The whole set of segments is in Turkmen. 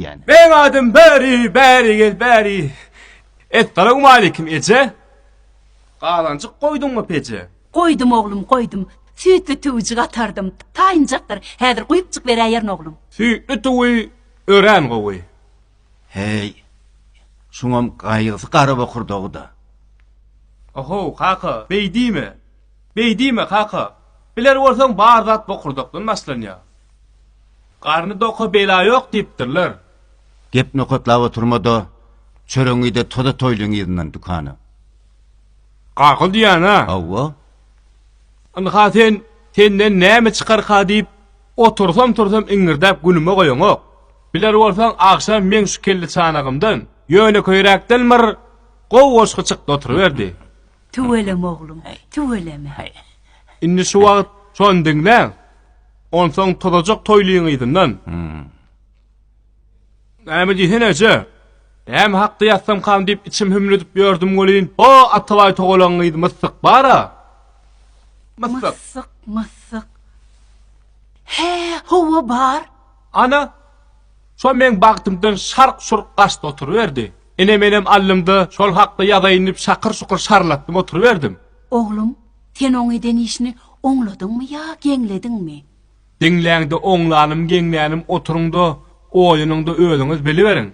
etýän. Meň adym Bäri, bäri gel, bäri. Essalamualeýkum, eje. Gazanjyk goýduňmy peje? Goýdum, oglum, goýdum. Süýtli tüwi jygatardym. Taýynjakdyr. Häzir guýup çykberäýerin, oglum. Süýtli tüwi örän gowy. Heý, şuňam gaýgysy garabokurdagy-da. Oho, kaka, beý diýme. Beý diýme, kaka. Biler bolsaň, bar zat bokurdakdan başlanýar. Garny doka bela ýok diýipdirler. Gep nokatlap oturma-da, çöregiňi-de toza toýlyň yzyndan dükana. Gagyl diýýän-a? Hawa. Ynha sen, senden näme çykarka diýip, otursam-tursam iňňirdäp günüme goýaňok. Biler bolsaň, agşam meň şu kelleçanagymdan, ýönekeýräkdenmir gowy goşgy çykdy oturyberdi. Tüweleme oglum, tüweleme. Indi şu wagt şony diňläň. Onsoň tozajak toýlyň yzyndan. Näme diýsene eje? Näme hakda ýatsamkam diýip içim hümledip ýördüm welin, o Atabaý togalaň gyzy Myssyk bar-a. Myssyk. Myssyk, Myssyk. Hä, hawa bar. Ana, şo meň bagtymdan şark-şurk gaçdy oturyberdi. Ine menem allymda şol hakda ýazaýyn diýip şakyr-şukur şarlatdym oturyberdim. Oglum, sen oň eden işini oňladyňmy ýa geňlediňmi? Diňläňde oňlanym geňlänim oturyňda oýanyňda özüňiz biliberiň.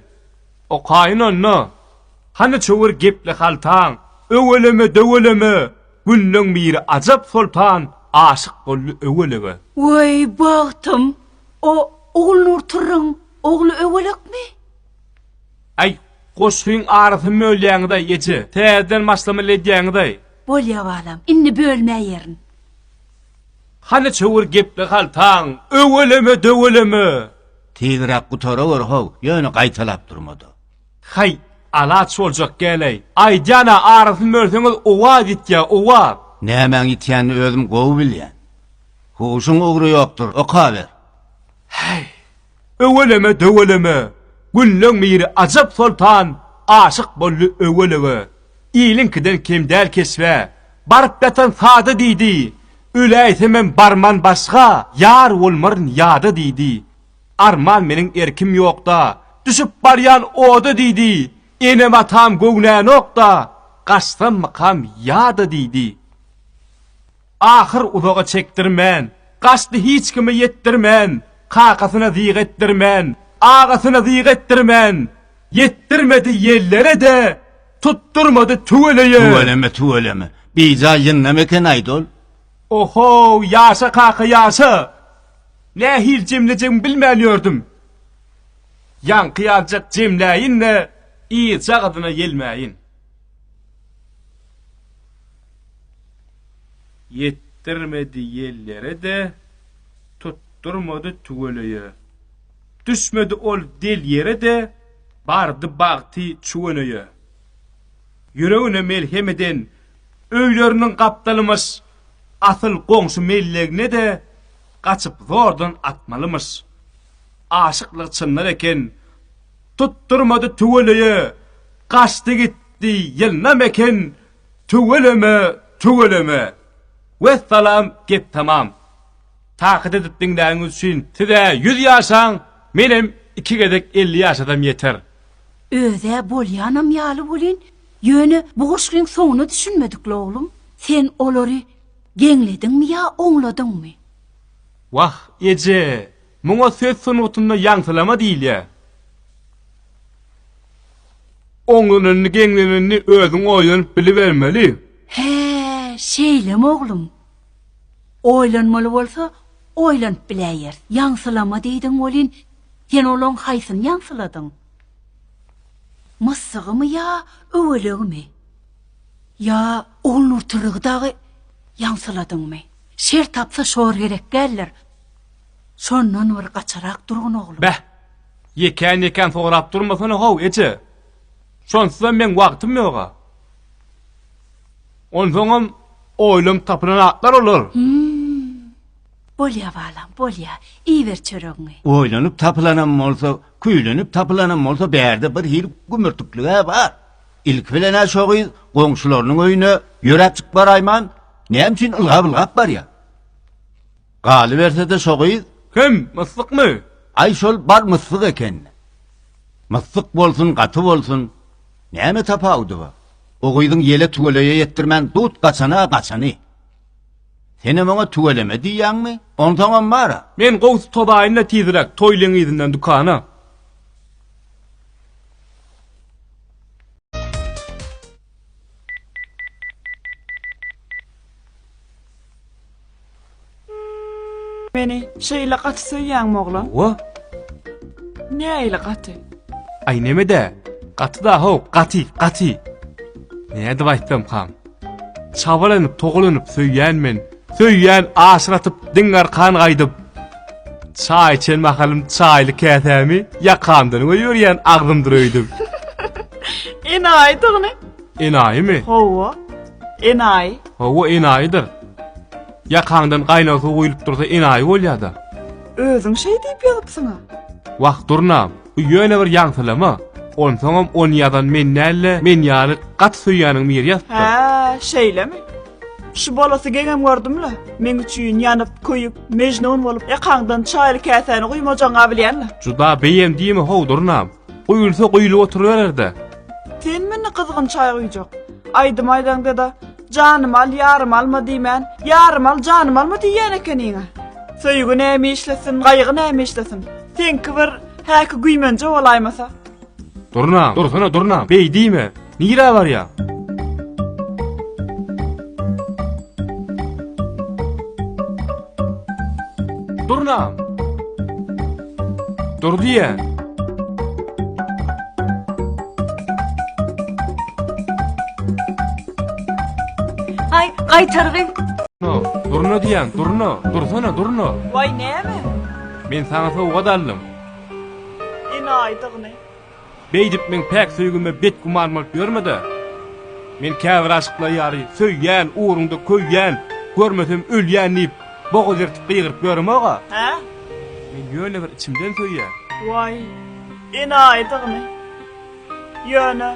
Okaýyn onda. Hany çöwür gepli haltaň, Öweleme-döweleme, Günleň biri ajap soltan Aşyk boldy öwelege. Weý, bagtym! O Ogulnur Turruň ogly Öwelekmi? Aý, goşgyň arasyny bölýäňiz-aý, eje. Täzeden başlamaly edýäňiz-aý. Bolýa, balam. Indi bölmäýerin. Hany çowur gepli haltaň, öweleme, döweleme! Tizräk gutarawer-how, ýöne gaýtalap durma-da. Haý, alaç boljak gel-aý. Aýdýan-a, arasyny bölseňiz, owaz ýitýä, owaz. Nämäň ýitýänini özüm gowy bilýän. Huşuň ugry ýokdur, okaber. Häý, Öweleme döweleme Gülleň miri ajap soltan Aşyk boldy öwelege Iliňkiden kem däl keşbe Baryp ýatan sada diýdi Öläýsemem barman başga Ýar bolmaryn ýada diýdi Arman meniň erkim ýokda Düşüp barýan oda diýdi Enem atam göwnänokda Gaçsammykam ýada diýdi. Ahyr uzaga çekdirmän, Gaçdy hiç kime ýetdirmän, Kakasyna zyýg etdirmän, Agasyna zyýg etdirmän. Ýetdirmedi ýellere-de, Tutdurmady tüweleýe. Tüweleme, tüweleme. Bijaý ýyndam eken aýdol. Ohow, ýaşa kaka, ýaşa! Nähili jemlejegimi bilmän ýördüm. Ýaňky ýaljak jemläýin-de, yzjagazyna ýelmäýin. Ýetdirmedi ýellere-de, tutdurmady tüweleýe. Düşmedi ol del ýere-de, bardy bagty çüweneýe. Ýüregine melhem eden öýleriniň gapdalymyş, asyl goňşy mellegine-de gaçyp zordan atmalymyş. Aşyklygy çynlar eken, tutdurmady tüweleýe, gaçdy gitdi ýylnam eken, Tüweleme, tüweleme. Wessalam gep tamam. Takyt edip diňläniňiz üçin siz-ä ýüz ýaşaň, menem iki gezek elli ýaşasam ýeter. Öz-ä bolýanam ýaly welin, ýöne bu goşgyň soňuna düşünmedik-le oglum. Sen olary geňlediňmi ýa oňladyňmy? Wah, eje, muňa söz sungatynda ýaňsylama diýilýär. Oňlananyny, geňlenenini özüň oýlanyp bilibermeli. Hä, şeýlemi, oglum? Oýlanmaly bolsa, oýlanyp biläýeris. Ýaňsylama diýdiň welin, sen olaň haýsyny ýaňsyladyň? Myssygymy ýa öwelegimi? Ýa Ogulnurtyrygy dagy ýaňsyladyňmy? Şer tapsa şor gerek däldir. Şondan bir gaçarak durgun oglum. Beh! Ýekän-ýekän sorap durmasana-how, eje! Şonsuzam meň wagtym ýog-a. Onsoňam oýlanyp tapylan atlar olar. Hum. Bolýa, balam, bolýa. Iýiber çöregiňi. Oýlanyp tapylanam bolsa, küýlenip tapylanam bolsa bärde bir hili gümürtiklig-ä bar. Ilki bilen-ä şo gyz goňşularynyň öýüne ýöräp çykyp baraýman, näme üçin ylgap-ylgap barýa? Galyberse-de şo gyz. Kim, myslykmy? Aý şol bar myslyk eken. Myslyk bolsun, gaty bolsun, näme tapawudy bar? O gyzyň ýele tüweleýe ýetdirmän dut gaçan-a gaçany. Senem oňa tüweleme diýýäňmi? Onsoňam bar-a. Men gowsy tozaýyn-da tizräk toý leňizinden dükana. Meni şeýle gaty söýýäňmi oglan? Hawa. Nähili gaty? Aý neme-dä? Gaty da haw, gaty, gaty. Nädip aýtsam, han? Çabalanyp, togalanyp söýýän men Söýýän aşratyp diň arkan gaýdyp Çaý içen mahalym çaýly käsämi ýakamdan we ýörýän agzymdyr öýdüp. Enaýy tygny. Enaýymy? Hawa. Enaýy. Hawa enaýydyr. Ýakaňdan gaýnag suw guýlup dursa enaýy bolýada. Özüň şeý diýip ýazypsyňa. Wah durna. Bu ýöne bir ýaňsylama. Onsoňam ony ýazan men däl-de, men ýaly gaty söýýäniň biri ýazypdyr. Hä, şeýlemi? Şu bolasy geňem gördüm-le. Meň üçin ýanyp, köýüp, Mejnun bolup, ýakaňdan çaýly käsäni guýmajagyň-a bilýän-le. Juda beýem diýme-how, durnam. Guýulsa guýlup oturyberer-dä. Sen meni gyzgyn çaý guýjak. Aýdym aýdaňda-da, Janym al, ýarym alma diýmän, Ýarym al, janym alma diýýän ekeniň-ä. Söýgi näme işlesin, gaýgy näme işlesin? Seňki bir häki güýmenje bolaýmasa. Durna, dursana durna, beý diýme. Nirä barýa? Durna. Dur diýä. Ay gaýtargy. No, durna diýen, durna, dursana durna. Vay näme? Men saňa sowgat aldym. Enaýydygyny. Beýdip meň päk söýgime betgüman bolup ýörme-de. Men käbir aşyklar ýaly söýýän, ugruňda köýýän, görmesem ölýän diýip, boga zertip gygyryp ýöremog-a. Hä? Men ýöne bir içimden söýýän. Waý, enaýydygyny. Ýöne,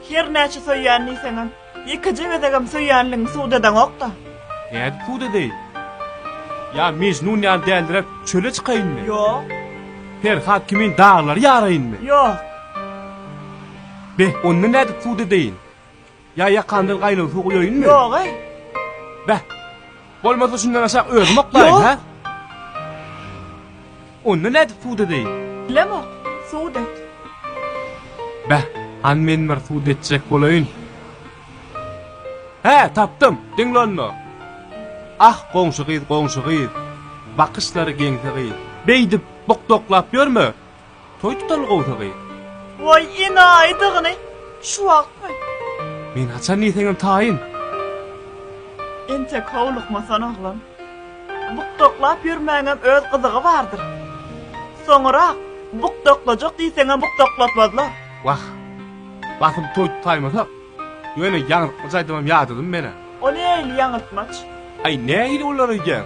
her näçe söýýän diýseňem. Ýekeje gezegem söýýänligiňi subut edeňok-da. Nädip subut edeý? Ýa Mejnun ýaly däldiräp çöle çykaýynmy? Ýok. Perhat kimin daglary ýaraýynmy? Ýok. Be, onda nädip subut edeýin? Ýa ýakamdan gaýnag suw guýaýynmy? Ýog-eý. Beh! Bolmasa şundan aşak özüm oklaýyn, Ýok. hä? Onda nädip sud edeýin? Bilemok. Sud et. Bäh, han men bir sud etjek bolaýyn. Hä, tapdym. Diňle onda. Ah, goňşy gyz, goňşy gyz. Bakyşlary geňsi gyz. Beýdip bokdoklap ýörme. Toý tutaly gowsagy. Woý, enaýydygyny, şu wagtmy? Men haçan diýseňem taýyn. Entek howlukmasan oglan. Bukdaklap ýörmäňem öz gyzygy bardyr. Soňurak bukdaklajak diýseňem bukdaklatmazlar. Wah, basym toý tutaýmasak, ýöne ýaňyltmaç aýdymam ýadadym men-ä. O nähili ýaňyltmaç? Aý, nähili olar öýdýäň?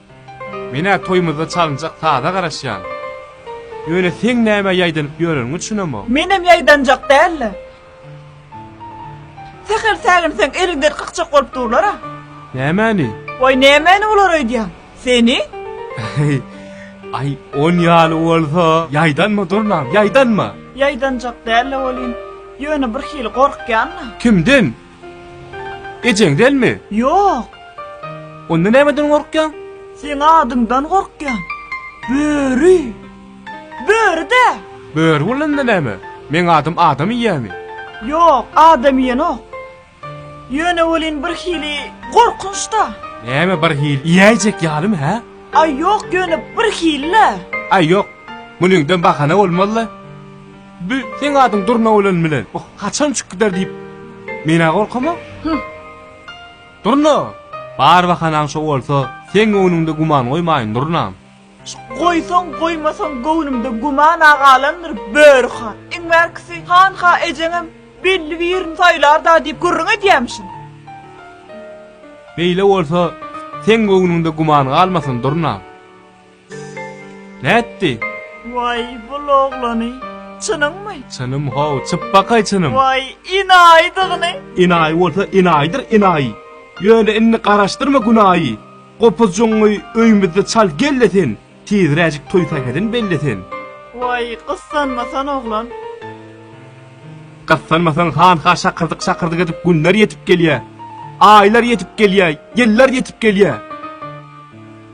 Men-ä toýumyzda çalynjak saza garaşýan. Ýöne seň nämä ýaýdanyp ýöreniňi düşünemok. Menem ýaýdanjak däl-le. Sähel säginseň eliňden kakjak bolup durlar-a. Nämäni? Waý, nämäni bular öýdýän? Seni? Aý, on ýaly bolsa, ýaýdanma, durnam, ýaýdanma! Ýaýdanjak däl-le welin, ýöne birhili gorkýan-la. Kimden? Ejeň dälmi? Ýok. Onda nämeden gorkýaň? Seň adyňdan gorkýan. Böri. Böri-dä. Böri bolanda näme? Meň adym adam iýýämi? Ýok, adam iýenok. Ýöne welin bir hili gorkunç-da. Näme bir hili iýäýjek ýalymy, hä? Aý ýok, ýöne bir hili-le. Aý ýok. Munyňdan bahana bolmaz-la. Bu seň adyň Durna bolan bilen bu haçan uçup gider diýip, men-ä gorkama. Hyh. Durna, bar bahanaň şo bolsa, seň göwnüňde güman goýmaýyn, Durnam. Goýsaň, goýmasaň göwnümde güman-a galandyr, Böri han. Iň bärkisi, hanha ejeňem belli birini saýlar-da diýip gürrüň edýämişin. Beýle bolsa, seň göwnüňde güman galmasyn, Durnam. Nätdi? Waý, bul oglany. Çynyňmy? Çynym how, çyp bakaý çynym. Waý, inaýydygyny. Inaýy bolsa inaýydyr inaýy. Ýöne indi garaşdyrma günaýy. Gopuzjygyňy öýümizde çal gel-de sen, tizräjik toý sähedin belle sen. Waý, gyssanmasan oglan. Gyssanmasaň hanha şakyrdyk-şakyrdyk edip günler ýetip gelýä. Aýlar ýetip gelýä, ýyllar ýetip gelýä.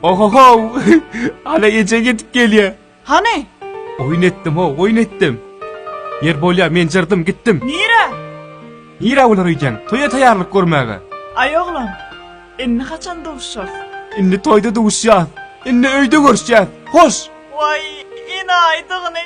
Ohohow! Ana ejeň ýetip gelýär. Hany? Oýun etdim-ow, oýun etdim. Ýer bolýa, men jyrdym, gitdim. Nirä? Nirä olar öýdýäň? Toýa taýýarlyk görmäge. Aý oglan, indi haçan duşuşarys? Indi toýda duşuşýas. Indi öýde görüşýäs. Hoş! Waý, ine aýdygyny.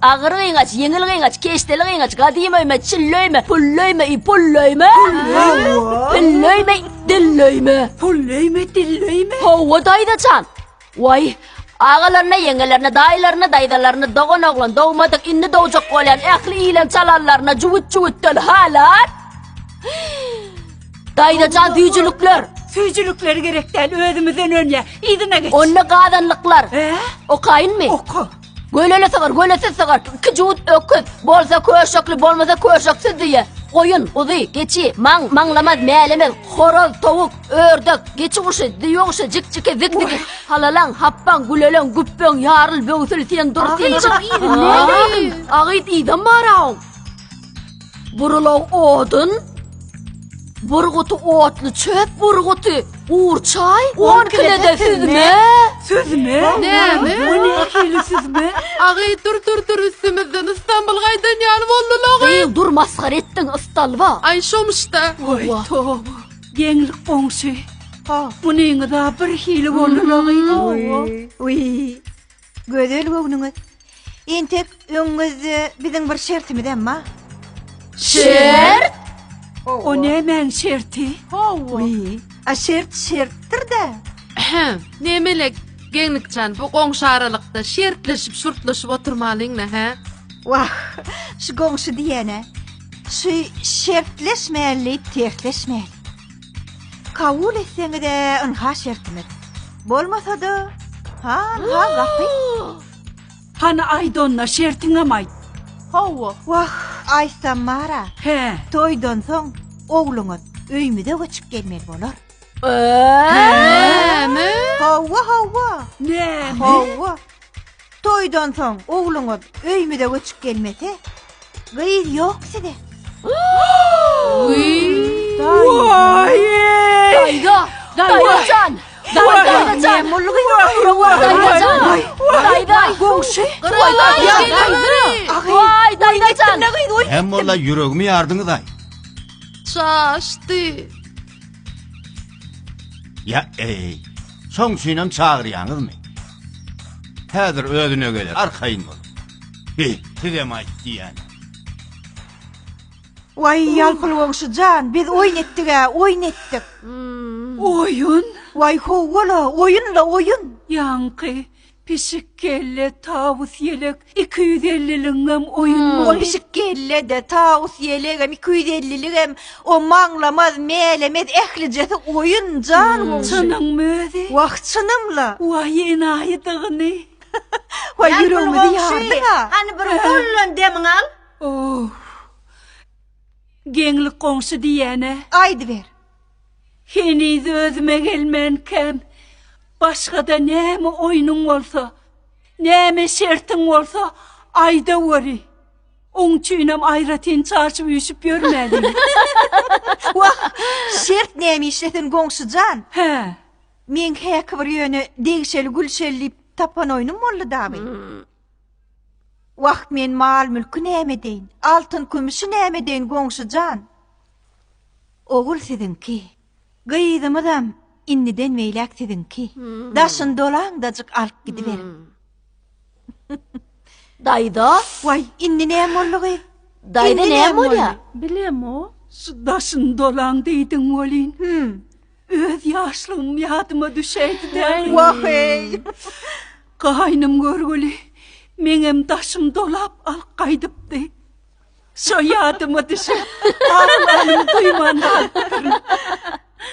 Agyr gyňaç, ýeňil gyňaç, keşdeli gyňaç, gadym öýme, çilli öýme, pully öýme, i pully öýme, pilli öýme, dilli öýme, pully öýme, dilli öýme. Hawa, daýza jan. Waý, agalaryna, ýeňňelerine, daýylaryna, daýzalaryna, dogan oglan, dogmadyk, indi dogjak bolýan ähli ýilen çalanlaryna jüwüt-jüwütden halar. Daýza jan, süýjülikler. Süýjülikleri gerek däl, özümizden önýär. Yzyna geç. Onda gazanlyklar. Okaýynmy? Oka. Göleli sygyr, gölesiz sygyr, iki jüwüt öküz, bolsa köşekli, bolmasa köşeksiz düýe, goýun, guzy, geçi, maň, maňlamaz, mälemez, horaz, towuk, ördek, geçi guşy, düýe guşy, jikjiki, zikziki, halalaň, hapbaň, güleleň, güpbeň, ýaryl, böwsül, sen dur, sen çyk, agyz, yzam bar-aw! Burulan odun, burguty otly çöp burguty, gurçaý, on kilede süzme. Süzme? Näme? Bu nähili süzme? Agy dur dur dur üstümizden İstanbul gaýdan ýaly boldy logy. Gyz dur masgara etdiň ystalba. Ay şomuşda. Oý, toba. Geňlik goňşy. Ha. Munyňyz-a bir hili boldy logy. Oý. Gözel göwnüňiz. Entek öňüňizde biziň bir şertimiz hem bar. Şert? O nämäň şerti? Hawa. Uý, a şert şertdir-de. Ahem, nemele Geňlikjan bu goňşy aralykda şertleşip şurtlaşyp oturmalyňmy, hä? Wah, şu goňşy diýene. Şu şertleşmäli diýip tertleşmäli. Kabul etseňiz-ä ynha şertimiz. Bolmasa-da, ha-ha gapy. Hany aýt onda, şertiňem aýt. Hawa. Wah, aýtsam bar-a. Hä. Toýdan soň ogluňyz öýümize göçüp gelmeli bolar. Näme? Hawa, hawa. Näme? Hawa. Toýdan soň ogluňyz öýmüze göçüp gelmese, gyz ýok size. Daýza! Daýzajan! Daýzajan! Mullugy ýok. Daýzajan! Daýza! Goňşy! Waý, daýzajan! Hem bolla ýüregimi ýardyňyz-aý. Çaşdy. Ya ey, soň üçinem çagyrýaňyzmy? Häzir özüne geler, arkaýyn bol. Bi, sizem aýt diýýän. Waý, ýalpyl goňşy jan, biz oýun etdik-ä, oýun etdik. Oýun? Waý, howwa-la, oýun-la, oýun. Ýaňky, Pişik kelle, tawus ýelek, iki ýüz elliligiňem oýun bol. Ol pişik kelle-de, tawus ýelegem, iki ýüz elliligem, o maňlamaz, mälemez, ählijesi oýun, jan goňşy. Çynyňmy özi? Wah, çynym-la. Waý, enaýydygyny. Waý, ýüregimizi ýardyň-a. Hany bir gollan demiňi al. Oww. Geňlik goňşy diýýän-ä. Aýdyber. Heniz özüme gelmänkäm, başga-da näme oýnuň bolsa, näme şertiň bolsa, aýdaweri. Oň üçinem aýratyn çaşyp-üýşüp ýörmäliň. Wah, şert nämişe sen, goňşy jan? Hä. Meň häki bir ýöne degşeli Gülşeli diýip tapan oýnum boldy dagy. Wah, men mal-mülki näme deýin, altyn-kümüşi näme deýin, goňşy jan? Ogul siziňki, gyzymyzam indiden beýläk siziňki. Daşyny dolaňdajyk alyp gidiberiň. Daýza! Waý, indi näme boldy, gyz? Daýza, näme bolýar? Bilemo. Şu daşyny dolaň diýdiň welin, öz ýaşlygym ýadyma düşäýdi-dä. Wah-eý! Gaýnym görgüli, meňem daşym dolap alyp gaýdypdy. Şo ýadyma düşüp, aglanymy duýman galypdyryn.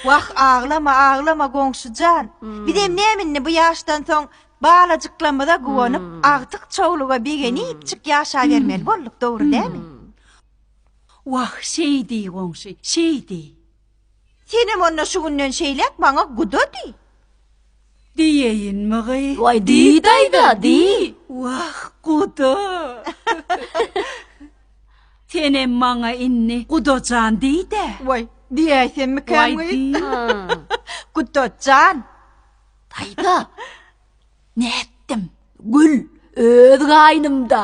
Wah, aglama, aglama, goňşy jan. Bizem näme indi bu ýaşdan soň balajyklarymyza guwanyp, agtyk çowluga begenipjik ýaşabermeli bolduk, dogry dälmi? Wah, şeý diý, goňşy, şeý diý. Senem onda şu günden şeýläk maňa guda diý. Diýeýinmigy? Waý, diý, daýza, diý! Wah, guda! Senem maňa indi guda jan diý-dä! Waý, diýäýsemmikäm? Waý, diý! Guda jan! Daýza, nätdim, gül, öz gaýnymda!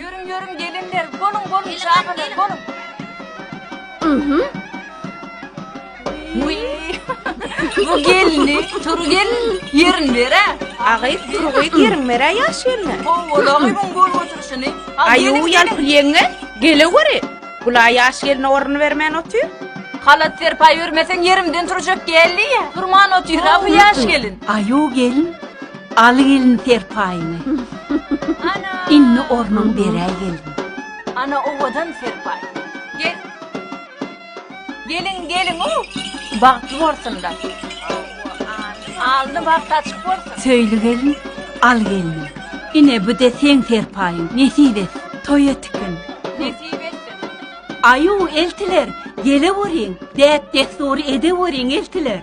Ýörüň ýörüň gelinler boluň boluň çagalar boluň. Mhm. Bu gelni tur gel yerin bere. Agay turgay yerin bere yaş yerine. Oğulağı bun bol oturşunu. Ayu yalpıl yenge gele göre. Bula yaş yerine orun vermen otur. Halat serpay vermesen yerimden turacak geldi ya. Turman otur ha bu yaş gelin. Ayu gelin. Al gelin serpaýyňy. Ana! Indi ornuň beräý gelin. Ana owadan serpaý. Gel. Gelin gelin u. Bagtly bolsunlar. Alny bagt açyk bolsun. Söýli gelin, al gelnim. Ine bu de seň serpaýyň. Nesip et. Toý etikin. Nesip etsin. Aýu eltiler, geleweriň. Däp-dessury edeweriň eltiler.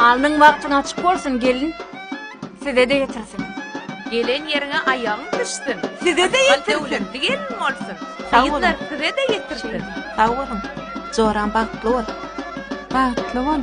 Alnyň bagtyň açyk bolsun, gelin, size-de ýetirsin. Gelen ýeriňe aýagyň düşsün. Size-de ýetirsin. Akyl döwletli gelin bolsun. Sag boluň. Gyzlar, size-de ýetirsin. Sag boluň. Joram bagtly bol. Bagtly bol.